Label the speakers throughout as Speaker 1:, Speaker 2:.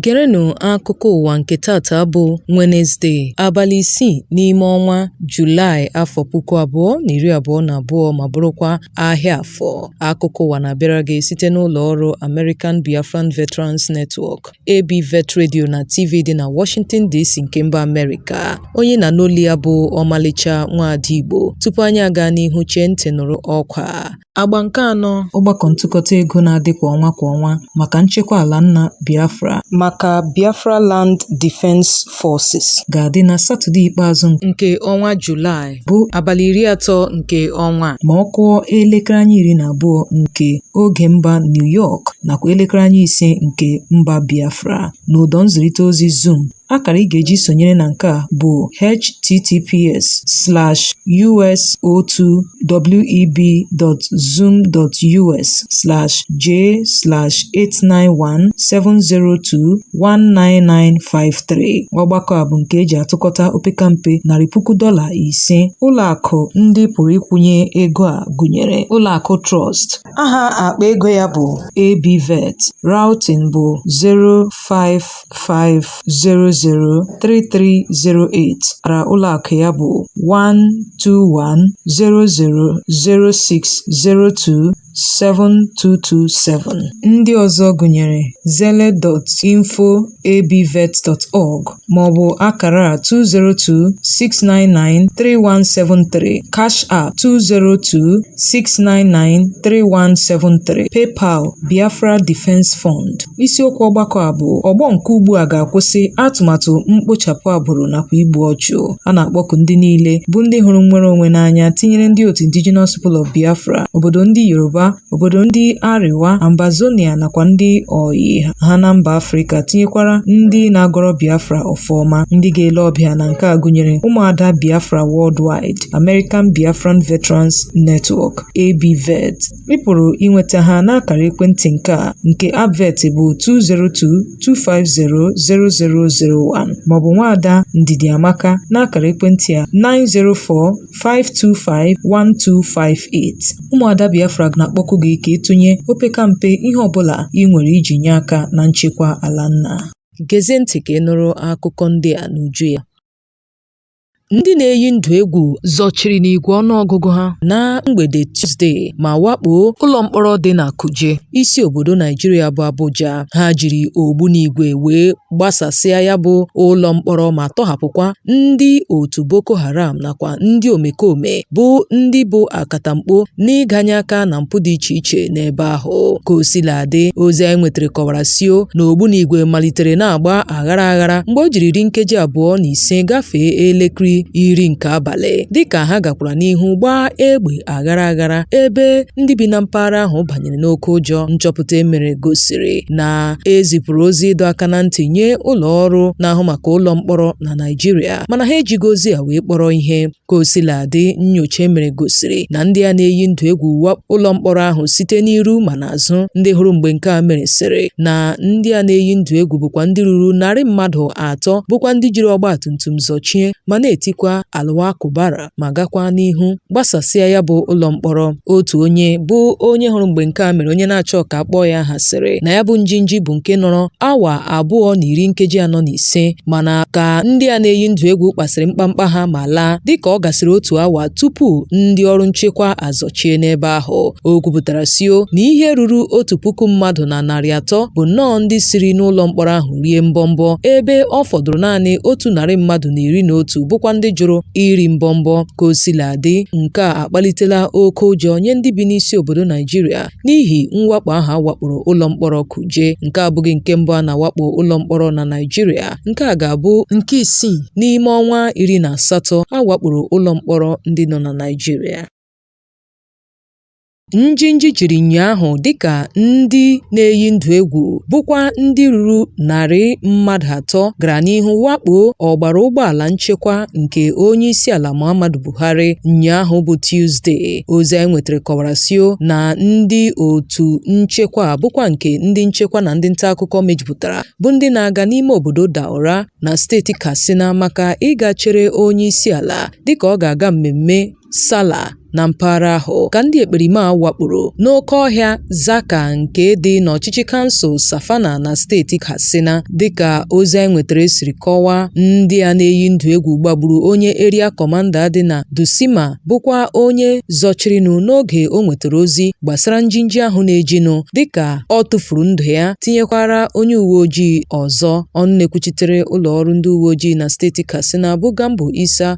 Speaker 1: Gerenụ akụkọ ụwa nke tata bụ Wenesde, abalị isii n'ime ọnwa Julaị afọ puku abụọ na iri abụọ na abụọ ma bụrụkwa ahịa afọ. Akụkọ ụwa na-abịara gị site n'ụlọ ọrụ American Biafran Veterans Network AB Vet Radio na TV dị na Washington DC nke mba Amerịka. Onye ị na-anụ olu ya bụ ọmalịcha nwaada Igbo. Tupu anyị aga n'ihu chee ntị nụrụ ọkwa a. Agba nke anọ ọgbakọ ntụkọta ego na-adị kwa ọnwa kwa ọnwa maka nchekwa ala nna Biafra maka Biafra Land Defense Forces ga-adị na Satọde ikpeazụ nke ọnwa Julaị. bụ abalị iri atọ nke ọnwa a ma ọ kụọ elekere anya iri na abụọ nke oge mba New York nakwa elekere anya ise nke mba Biafra n'ụdọ nzirịta ozi Zoom akara ị ga-eji sonyere na nke a bụ https slash us02web.zoom.us slash j slash 891 702 19953 ọgbakọ a bụ nke e ji atụkọta opekampe narị puku dọla ise ụlọakụ ndị pụrụ ịkwụnye ego a gụnyere ụlọakụ Truist aha akpa ego ya bụ ABVET routing bụ 055003308 akara ụlọakụ ya bụ 121000602 7227. Ndị ọzọ gụnyere Zelle info@abvet.org maọbụ akara a 202-699-3173, Cash App 202-699-3173, PayPal, Biafra Defense Fund. Isiokwu ọgbakọ a bụ ọgbọ nke ugbu a ga-akwụsị atụmatụ mkpochapụ agbụrụ nakwa igbu ọchụ. a na-akpọku ndị niile bụ ndị hụrụ nnwere onwe n'anya tinyere ndị otu Indigenous People of Biafra obodo ndị Yoruba obodo ndị Arewa Ambazonia nakwa ndị oyi ha na mba Afrịka tinyekwara ndị na-agọrọ Biafra ọfọ ọma ndị ga-ele ọbịa na nke a gụnyere ụmụada Biafra Worldwide American Biafran Veterans Network ABVET Ị pụrụ inweta ha n'akara ekwentị nke a nke Abvet bụ 202-250-0001 maọbụ nwaada Ndidi Amaka n'akara ekwentị a 904-525-1258. Ụmụada Biafra na-akpọku gị ka ị tụnye opekampe ihe ọbụla i nwere iji nye aka na nchekwa ala nna. Gezie ntị ka ị nụrụ akụkọ ndị a n'uju ya. Ndị na-eyi ndụ egwu zọchiri n'igwe ọnụọgụgụ ha na mgbede Tuzdee ma wakpoo ụlọ mkpọrọ dị na Kuje, isi obodo Naịjirịa bụ Abuja. Ha jiri ogbunigwe wee gbasasịa ya bụ ụlọ mkpọrọ ma tọhapụkwa ndị otu Boko Haram nakwa ndị omekome bụ ndị bụ akatamkpo n'ịganye aka na mpụ dị iche iche n'ebe ahụ. Ka o sila dị, ozi anyị nwetara kọwara sio na ogbunigwe malitere na-agba aghara aghara mgbe o jiri iri nkeji abụọ na ise gafee elekere iri nke abalị dịka ha gakwara n'ihu gbaa egbe aghara aghara ebe ndị bi na mpaghara ahụ banyere n'oke ụjọ nchọpụta e mere gosiri na e zipụrụ ozi ịdọ aka na ntị nye ụlọ ọrụ na-ahụ maka ụlọ mkpọrọ na Naịjirịa mana ha ejighị ozi a wee kpọrọ ihe Ka o sila dị, nnyocha e mere gosiri na ndị a na-eyi ndụ egwu wakpo ụlọ mkpọrọ ahụ site n'iru ma n'azụ. Ndị hụrụ mgbe nke a mere sịrị na ndị a na-eyi ndụ egwu bụkwa ndị ruru narị mmadụ atọ bụkwa ndị jiri ọgba tum tum zọchie ma na-etikwa Allahu Akbar ma gakwa n'ihu gbasasịa ya bụ ụlọ mkpọrọ. Otu onye bụ onye hụrụ mgbe nke a mere onye na-achọ ka a kpọọ ya aha sịrị na ya bụ njinji bụ nke nọrọ awa abụọ na iri nkeji anọ na ise mana ka ndị a na-eyi ndụ egwu kpasịrị mkpamkpa ha ma laa dịka ọ gasịrị otu awa tupu ndị ọrụ nchekwa azọchie n'ebe ahụ o kwupụtara sio na ihe ruru otu puku mmadụ na narị atọ bụ nnọọ ndị siri n'ụlọ mkpọrọ ahụ rie mbọmbọ ebe ọ fọdụrụ naanị otu narị mmadụ na iri na otu bụkwa ndị jụrụ iri mbọmbọ ka o sila dị nke a akpalitela oke ụjọ nye ndị bi n'isi obodo Naijiria n'ihi mwakpo ahụ a wakporo ụlọ mkpọrọ Kuje nke a abụghị nke mbụ a na-awakpo ụlọ mkpọrọ na Naijiria nke a ga-abụ nke isii n'ime ọnwa iri na asatọ a wakporo ụlọ mkpọrọ ndị nọ na Naijiria Njinji jiri ụnyaahụ dịka ndị na-eyi ndụ egwu bụkwa ndị ruru narị mmadụ atọ gara n'ihu wakpoo ọgbara ụgbọala nchekwa nke onye isi ala Muhammadu Buhari ụnyaahụ bụ Tuzdee. Ozi anyị nwetara kọwara sio na ndị otu nchekwa bụkwa nke ndị nchekwa na ndị nta akụkọ mejupụtara bụ ndị na-aga n'ime obodo Daura na steeti Katsina maka ịga chere onye isi ala dịka ọ ga-aga mmemme Sala na mpaghara ahụ ka ndị ekperima a wakporo n'oke ọhịa Zaka nke dị n'ọchịchị kansụl Safana na steeti Katsina. Dịka ozi anyị nwetara siri kọwaa, ndị a na-eyi ndụ egwu gbagburu onye eria kọmanda dị na Dutsinma bụkwa onye zọchirinụ n'oge o nwetara ozi gbasara njinji ahụ na-ejinụ dịka ọ tụfuru ndụ ya tinyekwara onye uwe ojii ọzọ. Ọnụ na-ekwuchitere ụlọ ọrụ ndị uwe ojii na steeti Katsina bụ Gambo Isa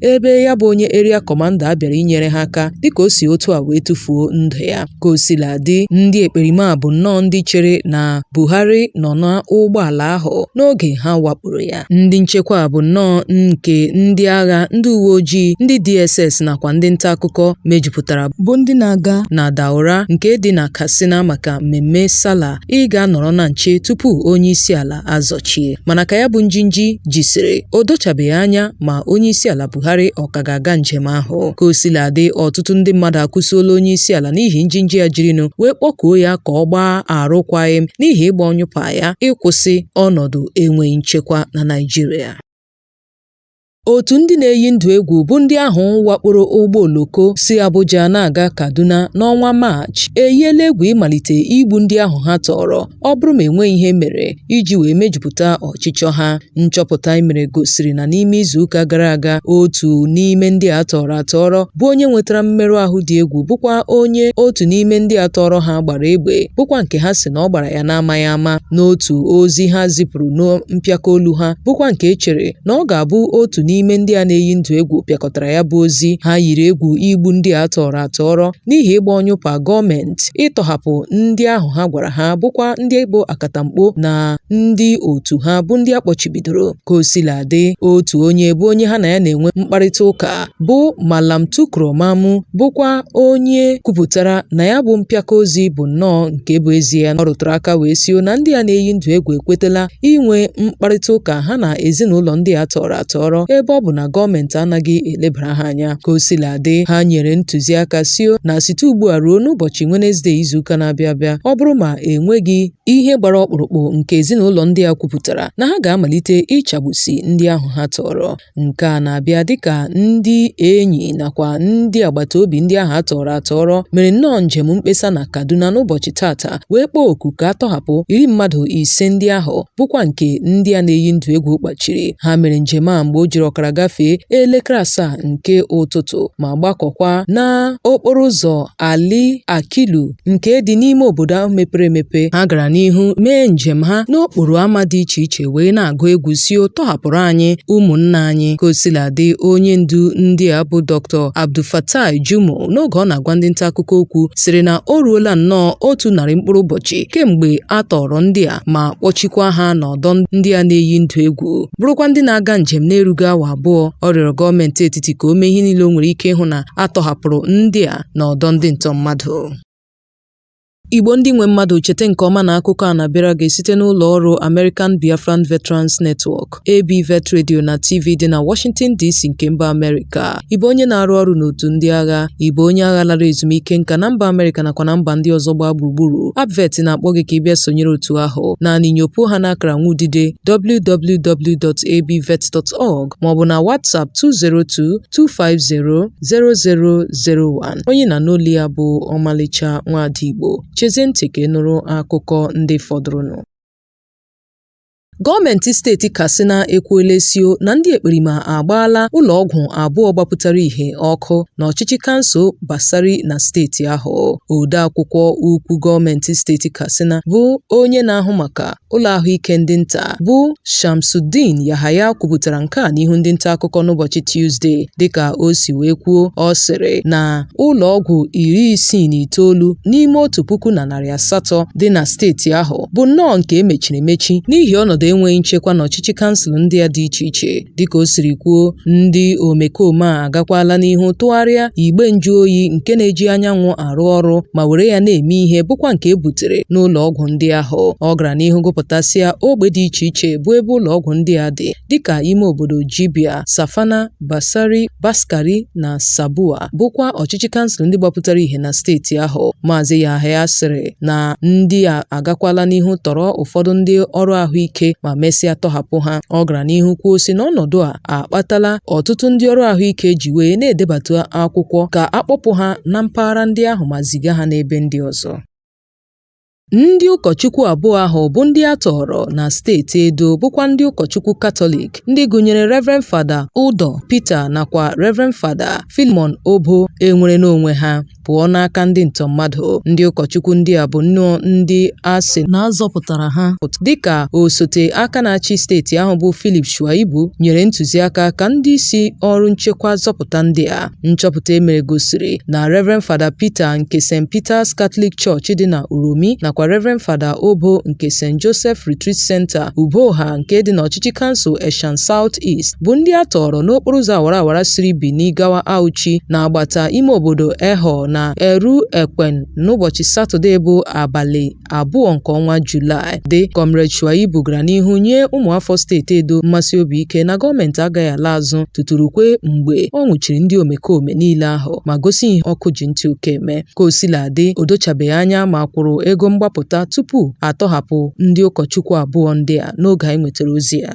Speaker 1: ebe ya bụ onye eria kọmanda a bịara inyere ha aka dịka o si otu a wee tụfuo ndụ ya ka o sila dị ndị ekperima bụ nnọọ ndị chere na Buhari nọ n'ụgbọala ahụ n'oge ha wakporo ya ndị nchekwa bụ nnọọ nke ndị agha ndị uwe ojii ndị DSS nakwa ndị nta akụkọ mejupụtara bụ ndị na-aga na Daura nke dị na Katsina maka mmemme Salah ịga nọrọ na nche tupu onye isi ala azọchie mana ka ya bụ njinji jisiri o dochabeghị anya ma onyeisiala Buhari ọ ka ga-aga njem ahụ ka o sila dị ọtụtụ ndị mmadụ akụsiola onyeisiala n'ihi njinji ya jirinụ wee kpọkuo ya ka ọ gbaa arụkwaghịm n'ihi ịgba ọnyụpa ya ịkwụsị ọnọdụ enweghị nchekwa na Naịjirịa Otu ndị na-eyi ndụ egwu bụ ndị ahụ wakporo ụgbọ oloko si Abuja na-aga Kaduna n'ọnwa Maachị eyiela egwu ịmalite igbu ndị ahụ ha tọọrọ ọ bụrụ ma enweghị ihe e mere iji wee mejupụta ọchịchọ ha. Nchọpụta e mere gosiri na n'ime izuụka gara aga otu n'ime ndị a tọọrọ atọọrọ bụ onye nwetara mmerụ ahụ dị egwu bụkwa onye otu n'ime ndị a tọọrọ ha gbara egbe bụkwa nke ha si na ọ gbara ya n'amaghị ama n'otu ozi ha zipụrụ na mpịaka olu ha bụkwa nke e chere na ọ ga-abụ otu n'ime ndị a na-eyi ndụ egwu pịakọtara ya bụ ozi ha yiri egwu igbu ndị a tọọrọ atọọrọ n'ihi ịgba ọnyụpa gọọmenti ịtọhapụ ndị ahụ ha gwara ha bụkwa ndị bụ akatamkpo na ndị otu ha bụ ndị a kpọchibidoro ka o sila dị otu onye bụ onye ha na ya na-enwe mkparịta ụka bụ Malam Tukur Mamu bụkwa onye kwupụtara na ya bụ mpịaka ozi bụ nnọọ nke bụ ezie ọ rụtụrụ aka wee sio na ndị a na-eyi ndụ egwu ekwetela inwe mkparịta ụka ha na ezinụlọ ndị a tọọrọ atọọrọ ebe ọ bụ na gọọmenti anaghị elebara ha anya ka o sila dị ha nyere ntụziaka sio na site ugbu a ruo n'ụbọchị Wenezde izuụka na-abịa abịa ọ bụrụ ma enweghị ihe gbara ọkpụrụkpụ nke ezinụlọ ndị a kwupụtara na ha ga-amalite ịchagbusi ndị ahụ ha tọọrọ Nke a na-abịa dịka ndị enyi nakwa ndị agbata obi ndị ahụ a tọọrọ atọọrọ mere nnọọ njem mkpesa na Kaduna n'ụbọchị taata wee kpọọ oku ka a tọhapụ iri mmadụ ise ndị ahụ bụkwa nke ndị a na-eyi ndụ egwu kpachiri ha mere njem a mgbe o jiri ọkara gafee elekere asaa nke ụtụtụ ma gbakọkwa n'okporo ụzọ Ali Akilu nke dị n'ime obodo ahụ mepere emepe ha gara n'ihu mee njem ha n'okporo ámá dị iche iche wee na-agụ egwu sio tọhapụrụ anyị ụmụnna anyị ka o sila dị onye ndu ndị a bụ Dr. Abdulfatai Jimoh n'oge ọ na-agwa ndị nta akụkọ okwu sịrị na o ruola nnọọ otu narị mkpụrụ ụbọchị kemgbe a tọọrọ ndị a ma kpọchikwa ha n'ọdọ ndị a na-eyi ndụ egwu bụrụkwa ndị na-aga njem na-erughị awa abụọ ọ rịọrọ gọọmenti etiti ka o mee ihe niile o nwere ike ịhụ na a tọhapụrụ ndị a na ọdọ ndị ntọ mmadụ. Igbo ndị nwe mmadụ cheta nke ọma na akụkọ a na-abịara gị site n'ụlọ ọrụ American Biafran Veterans Network, ABVET Radio na TV dị na Washington DC nke mba Amerịka. Ị bụ onye na-arụ ọrụ n'otu ndị agha, ị bụ onye agha lara ezumike nka na mba Amerịka nakwa na mba ndị ọzọ gbaa gburugburu, ABVET na-akpọ gị ka ị bịa sonyere otu ahụ. Naanị nyopuo ha n'akara nwudide www.abvet.org maọbụ na WhatsApp 202 250 0001 onye ị na-anụ olu ya bụ ọmalịcha nwaada Igbo chezie ntị ka ị nụrụ akụkọ ndị fọdụrụnụ Gọọmenti steeti Katsina ekwuola sị na ndị ekperima agbaala ụlọọgwụ abụọ gbapụtara ihe ọkụ n'ọchịchị kansụl Batsari na steeti ahụ. Odeakwụkwọ ukwu gọọmenti steeti Katsina bụ onye na-ahụ maka ụlọ ahụike ndị nta bụ Shamsuddin Yahaya kwupụtara nke a n'ihu ndị nta akụkọ n'ụbọchị Tuzdee dịka o si wee kwuo ọ sịrị na ụlọ ọgwụ iri isii na itoolu n'ime otu puku na narị asatọ dị na steeti ahụ bụ nnọọ nke e mechiri emechi n'ihi ọnọdụ enweghị nchekwa n'ọchịchị kansụl ndị a dị iche iche Dịka o siri kwuo, ndị omekome a agakwala n'ihu tụgharịa igbe njụoyi nke na-eji anyanwụ arụ ọrụ ma were ya na-eme ihe bụkwa nke e butere n'ụlọ ọgwụ ndị ahụ. Ọ gara n'ihu gụpụtasịa ogbe dị iche iche bụ ebe ụlọ ọgwụ ndị a dị dịka ime obodo Jibia, Safana, Batsari, Faskari na Sabuwa. bụkwa ọchịchị kansụl ndị gbapụtara ihe na steeti ahụ maazị Yahaya sịrị na ndị a agakwala n'ihu tọrọ ụfọdụ ndị ọrụ ahụike ma mesịa tọhapụ ha ọ gara n'ihu kwuo sị na ọnọdụ a akpatala ọtụtụ ndị ọrụ ahụike ji wee na-edebata akwụkwọ ka a kpọpụ ha na mpaghara ndị ahụ ma ziga ha n'ebe ndị ọzọ Ndị ụkọchukwu abụọ ahụ bụ ndị a tọọrọ na steeti Edo bụkwa ndị ụkọchukwu Katọlik ndị gụnyere Rev. Fada Udoh Peter nakwa Rev. Fada Philemon Oboh enwerela onwe ha pụọ n'aka ndị ntọ mmadụ. Ndị ụkọchukwu ndị a bụ nnọọ ndị a sị na a zọpụtara ha dịka osote aka na-achị steeti ahụ bụ Philip Shuaibu nyere ntụziaka ka ndị isi ọrụ nchekwa zọpụta ndị a. Nchọpụta e mere gosiri na Rev. Fada Peter nke St. Peter's Catholic Church dị na Uromi nakwa Rev. Fada Oboh nke St. Joseph Retreat Center, Ugboha nke dị n'ọchịchị kansụl Esan South East bụ ndị a tọọrọ n'okporo ụzọ awara awara siri Bini gawa Auchi n'agbata ime obodo Ehor na Iruekpen n'ụbọchị Satọde bụ abalị abụọ nke ọnwa Julaị dị Comrade Shuaibu gara n'ihu nye ụmụafọ steeti Edo mmesi obi ike na gọọmenti agaghị ala azụ tutu rukwe mgbe ọ nwụchiri ndị omekome niile ahụ ma gosi ihe ọkụ ji ntị oke eme ka o sila dị o dochabeghị anya ma a kwụrụ ego mgbapụta tupu a tọhapụ ndị ụkọchukwu abụọ ndị a n'oge anyị nwetara ozi a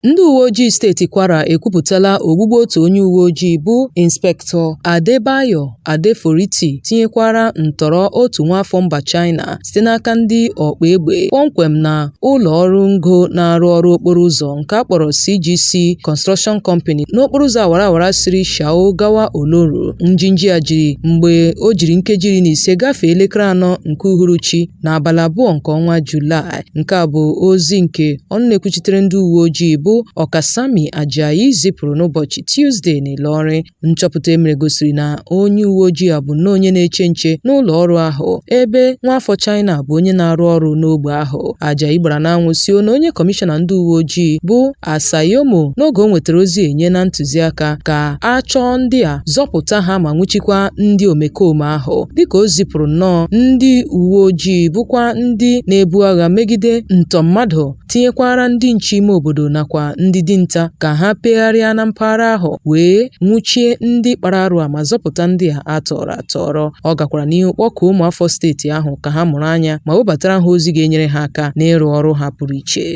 Speaker 1: Ndị uwe ojii steeti Kwara ekwupụtala ogbugbu otu onye uwe ojii bụ Inspektọ Adebayo Adeforiti tinyekwara ntọrọ otu nwaafọ mba China site n'aka ndị ọkpa egbe kpọmkwem na ụlọ ọrụ ngo na-arụ ọrụ okporo ụzọ nke a kpọrọ CGC Construction Company n'okporo ụzọ awara awara siri Shao gawa Oloru. Njinji a jiri mgbe o jiri nkeji iri na ise gafee elekere anọ nke uhuruchi n'abalị abụọ nke ọnwa Julaị. Nke a bụ ozi nke ọnụ na-ekwuchitere ndị uwe ojii bụ Okasanmi Ajayi zipụrụ n'ụbọchị Tuzde n'Ịlọrịn. Nchọpụta e mere gosiri na onye uwe ojii a bụ nnọọ onye na-eche nche n'ụlọ ọrụ ahụ ebe nwaafọ China bụ onye na-arụ ọrụ n'ogbe ahụ. Ajayi gbara n'anwụ sio na onye kọmishọna ndị uwe ojii bụ Assayomo n'oge o nwetara ozi enyena ntụziaka ka a chọọ ndị a zọpụta ha ma nwụchikwa ndị omekome ahụ dịka o zipụrụ nnọọ ndị uwe ojii bụkwa ndị na-ebu agha megide ntọ mmadụ tinyekwara ndị nche ime obodo nakwa ndị dinta ka ha pegharịa na mpaghara ahụ wee nwụchie ndị kpara arụ a ma zọpụta ndị a a tọrọ atọrọ ọ gakwara n'ihu kpọkuo ụmụafọ steeti ahụ ka ha mụrụ anya ma webatara ha ozi ga-enyere ha aka n'ịrụ ọrụ ha pụrụ iche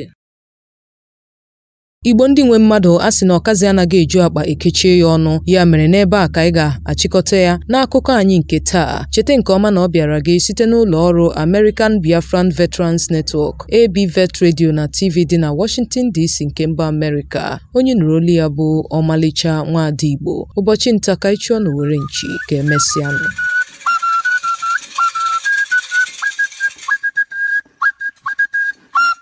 Speaker 1: Igbo ndị nwe mmadụ a sị na ọkazị anaghị eju akpa e kechie ya ọnụ ya mere n'ebe a ka anyị ga-achịkọta ya n'akụkọ anyị nke taa cheta nke ọma na ọ bịara gị site n'ụlọ ọrụ American Biafran Veterans Network AB Vet Radio na TV dị na Washington DC nke mba Amerịka onye nụrụ olu ya bụ ọmalịcha nwaada Igbo ụbọchị nta ka ị chụọ n'owere nchi ka e mesịanụ